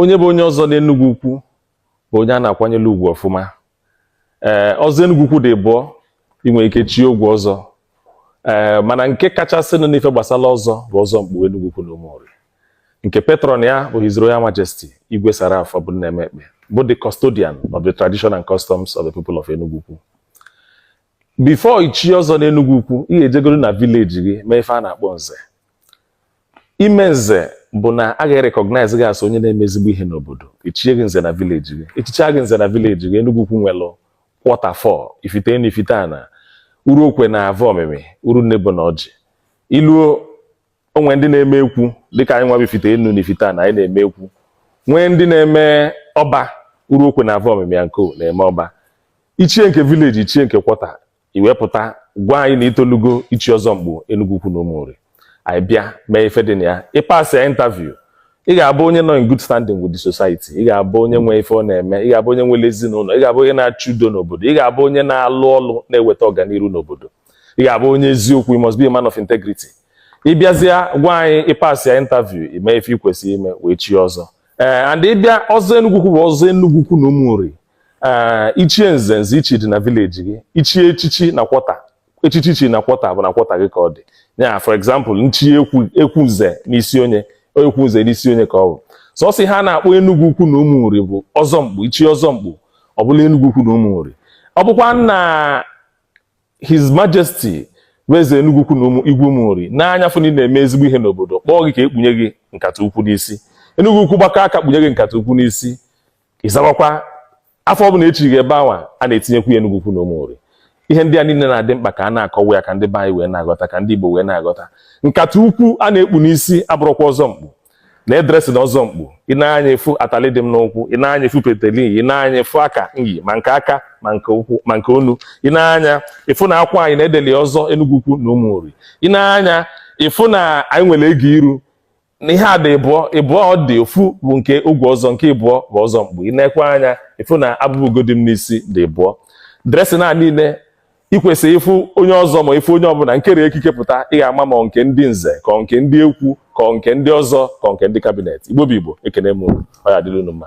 onye bụ onye ọzọ n'Enugwu Ukwu bụ onye a na-akwanyere ugwu ọfụma ee eh, ọzọ Enugwu Ukwu dị ịbụọ ị nwere ike chie ogwu ọzọ ee eh, mana nke kachasịnụ n'ife gbasara ọzọ bụ ọzọ mkpu Enugwu Ukwu na Ụmụnri nke patron ya bụ His Royal Majesty Igwe Sir Ralph Ọbụmnaeme Ekpeh bụ the custodian of the tradition and customs of the people of Enugu Ukwu before i chi ọzọ n'Enugu Ukwu ị ga-ejegoro na vileji gị mee ife a na-akpọ nze ime nze bụ na a ga-erekọgnaiz gị as onye na-eme ezigbo ihe n'obodo e chie gị nze na vileji gị e chichaa gị nze na vileji gị Enugu Ukwu nwelụ kwọta four Ifite Enu Ifite Ana Uruokwe na Avọmịmị Urunnebo na Ọjị i luo o nwee ndị na-eme ekwu dịka anyị nwa bụ Ifite Enu na Ifite Ana anyị na-eme ekwu nwee ndị na-eme ọba Uruokwe na Avọmịmị ya nko na-eme ọba i chie nke vileji i chie nke kwọta i wee pụta gwa anyị na i tolugo ichi ọzọ mkpu Enugu Ukwu na Ụmụnri anyị bịa mee ife dị na ya ị pasịa interview ị ga-abụ onye nọ in good standing with the society ị ga-abụ onye nwe ife ọ na-eme ị ga-abụ onye nwere ezinụlọ ị ga-abụ onye na-achụ udo n'obodo ị ga-abụ onye na-alụ ọlụ na-eweta ọganihu n'obodo ị ga-abụ onye eziokwu you must be a man of integrity ị bịazịa gwa anyị ị pasịa interview i mee ife ị kwesịrị ime wee chi ọzọ ee and ị bịa ọzọ Enugu Ukwu bụ ọzọ Enugu Ukwu na Ụmụnri ee i chie nze nze i chi dị na vileji gị i chie echichi na kwọta echichi i chi na kwọta bụ na kwọta gị ka ọ dị ya for example m chi ekwu nze n'Isionye ekwu nze n'Isionye ka ọ bụ sọsọ ihe a na-akpọ Enugu ukwu na Ụmụnri bụ ọzọ mkpu i chie ọzọ mkpu ọ bụla Enugu ukwu na Ụmụnri ọ bụkwa na his majesty bụ eze Enugu ukwu na igwe Ụmụnri nee anya fụ na ị na-eme ezigbo ihe n'obodo kpọọ gị ka e kpunye gị nkata ukwu n'isi Enugu ukwu gbakọ aka kpunye gị nkata ukwu n'isi ị zawakwa afa ọbụla e chi gị ebe anwa a na-etinyekwu ya Enugu ukwu na Ụmụnri ihe ndị a niile na-adị mkpa ka a na-akọwa ya ka ndị be anyị wee na-aghọta ka ndị Igbo wee na-aghọta nkata ukwu a na-ekpu n'isi abụrọkwa ọzọ mkpu na dresịn ọzọ mkpu i nee anya ị fụ atali dị m n'ụkwụ i nee anya ị fụ peteli i nee anya ị fụ aka m yi ma nke aka ma nke ụkwụ ma nke onu i nee anya ị fụ na akwa anyị na e deli ọzọ Enugu ukwu na Ụmụnri i nee anya ị fụ na anyị nwere ego iru na ihe a dị ịbụọ ịbụọ ọ dị ofu bụ nke ogwu ọzọ nke ịbụọ bụ ọzọ mkpu i neekwa anya ị fụ na abụba ugo dị m n'isi dị ịbụọ dresịn niile i kwesị ịfụ onye ọzọ ma ị fụ onye ọbụla nkere ekike pụta ị ga-ama ma nke ndị nze ka nke ndị ekwu ka nke ndị ọzọ ka nke ndị kabinet Igbo bụ Igbo ekene m unu ya dịrị unu mma